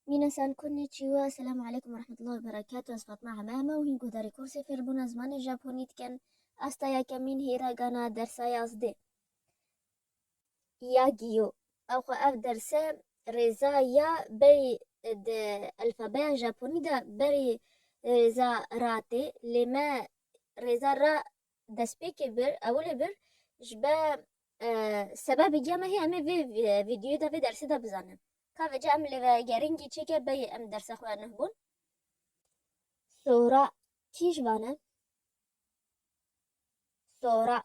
Mîna San Kunni Çîwa Selam aleykum ve rahmetullah ve berekatu Ez Fatma Hememe û hîn guhdarî kursê fêrbûna zimanê Japonî dikin asta yekemîn hêra gana dersa yazdê ya giyo ew xwe ev derse rêza ya berî di elfabeya Japonî de berî rêza ra tê lê me rêza ra destpêkê bir ewilê bir ji be sebebê giya me hê em ê vê vîdyoyê de vê dersê de bizanin. Ka vece em li vegerîngî çêke beyê em derse xwe nuh bûn. Sora kî ji wan e? Sora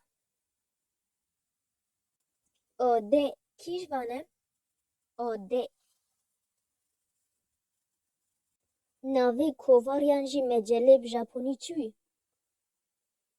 Odê kî ji wan e? Odê Navê kovariyan jî mecelê bi japonî çi wî?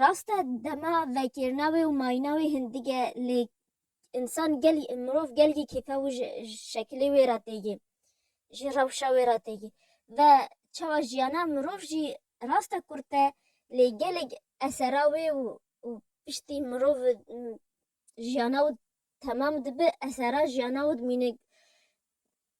rast e dema vekêrina wê û mayîna wê hin dige lê însan gel mirov gelgî kêfe û ji şekilê wê re têgê ji rewşa wê re têgê ve çawa jiyana mirov jî rast e kurt e lê gelek esera wê û û piştî mirov jiyana wê temam dibe esera jiyana wê dimîne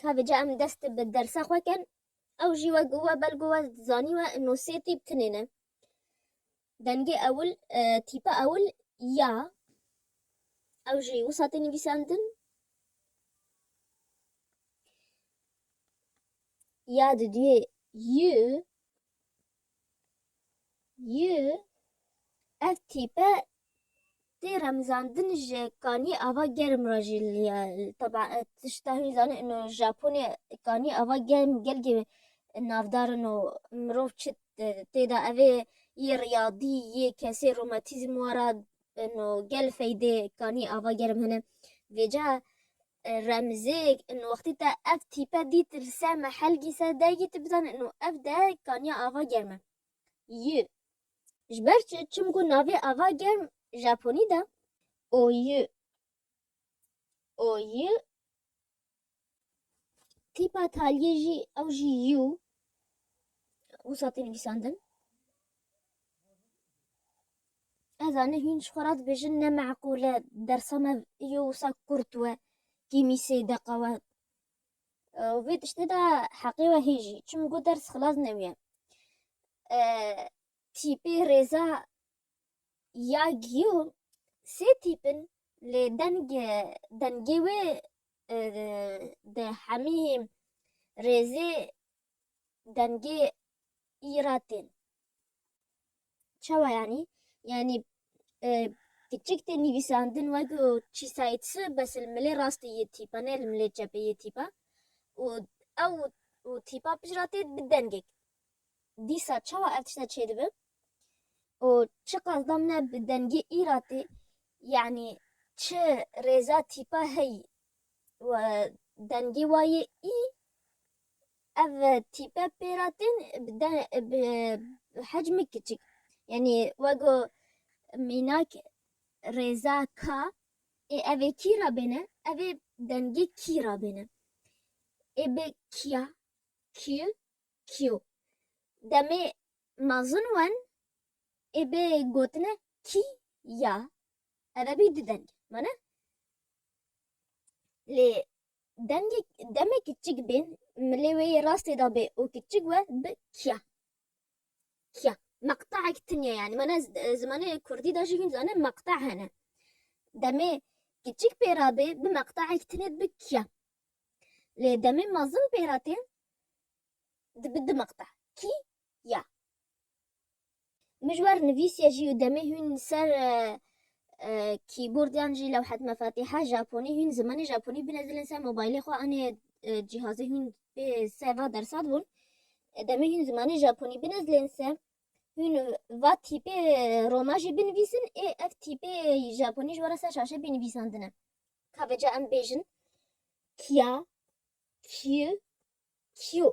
Kavê ca em dest bi dersa xwe kin, ew jî wek we belgo we zanî we no sê tîp tinêne. Dengê ewil, tîpa ewil ya. Ew jî wisa tê nivîsandin. Ya di duyê y Ji ev tîpe tê remzandin ji Kanî Ava Germ re jî liya. Tebaa tişta hûn zanin ino Japonê Kanî Ava Germ gelkî navdar ino. Mirov çi tê de evê yê riyadî yê kesê romatîzm wara ino. Gel feydê Kanî Ava Germ hene. Vêca Remzêk, Ino wextî te ev tîpe dît li ser me helgî ser dergî tu bizan ino ev derg Kaniya Ava Germ e. Y, Ji ber çi? Çimku navê Ava Germ Japonî de. O Y, O Y, tîpa taliyê jî ew jî Y û wisa tê nivîsandin. Ez anî hîn ji xwe re dibêjin ne meqûl e dersa me îyo wisa kurt we kîmî sê deqa we vê tiştê de heqê we hêjî çim ku ders xilas newîye tîpê rêza ya giyo sê tîpin lê deng dengê wê di hemî rêzê dengê î ra tên. Çawa yanî? Yanî kiçik tê nivîsandin weko çîsayîtsi bes li milê rastê yê tîpa ne li milê çepê yê tîpa û ew û tîpa pişt ra tê bi dengek. Dîsa çawa ev tişta çêdibi? Û çi qasda min e bi dengê î ra tê? Yanî çi rêza tîpa heyî? Dengê wa yê î Ev tîpe pêra tên bi de bi hecmê kiçik yanî wego mînak rêza ka ê evê kî ra bêne evê dengê kî ra bêne ê bi kîya kîy kîyo demê mezin wen ê bê gotine kî ya eve bî du denge mane lê Demgê demê kiçik bên milê wê yê rastê da bê û kiçik we bi kia. Kia. Meqtaek tin ye yanî. Mana zimanê kurdî da jî hîn dizane meqta hene. Demê kiçik pê ra bê bi meqtaek tinê dibi kia. Lê demê mezin pê ra tê dibi di meqta. Kî ya. Mijwar nivîsiye jî û demê hûn li ser kîbordiyan jî lewhet mefatîha japonî hûn zimanê japonî bine dilên ser mobaylê xwe anê cîhazê hûn bê ser va dersat bûn. Demê hûn zimanê japonî bine dilên ser hûn va tîpê roma jî binivîsin ê ev tîpê japonî ji were ser şaşe bê nivîsandine. Ka veca em bêjin kiya, kiyu, kiyo.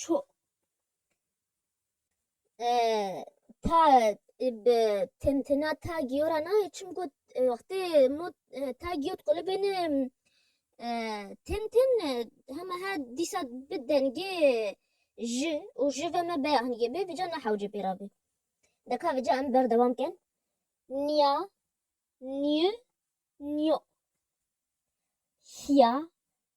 ço ta bi tintina ta giyora nayê çim ku wextê mot ta giyo dikole bêne tin tin hema he dîsa bi dengê ji û ji ve me beyaniyê bê vîca nehewce pê ra bê. Deka vîca em berdewam kin niya niyu niyo hiya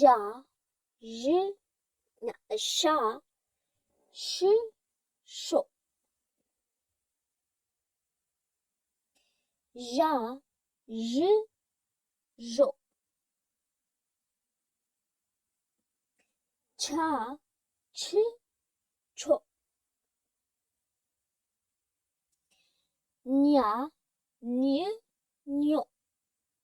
Ja, ji, na, şa, şi, şo. Ja, ji, jo. Ça, çi, ço. Nya, nyi, nyo.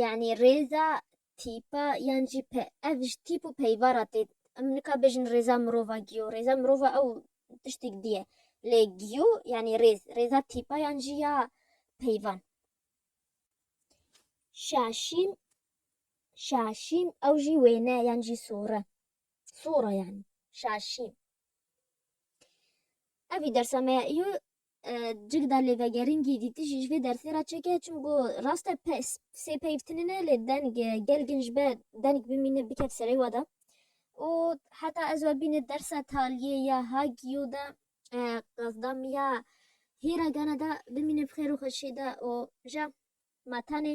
yanî rêza tîpa yan jî pe ev ji tîp û peyva re tê em nika bêjin rêza mirova giyo rêza mirova ew tiştêk dî ye lê giyo yanî rêz rêza tîpa yan jî ya peyvan. Şaşîm şaşîm ew jî wêne yan jî sore sora yanî şaşîm. Evî dersa me ya îyo Cigda lê vegeringî dîtijî ji vê dersê re çêke çimgo rast e sê peyv tune ne lê deng gel gin ji ber deng bimîne bikef serê we de û heta ez we bîne dersa taliyê ya Hagio de qasda min ya hîra gana de bimîne bi xêr û xweşî de û ja ma tenê.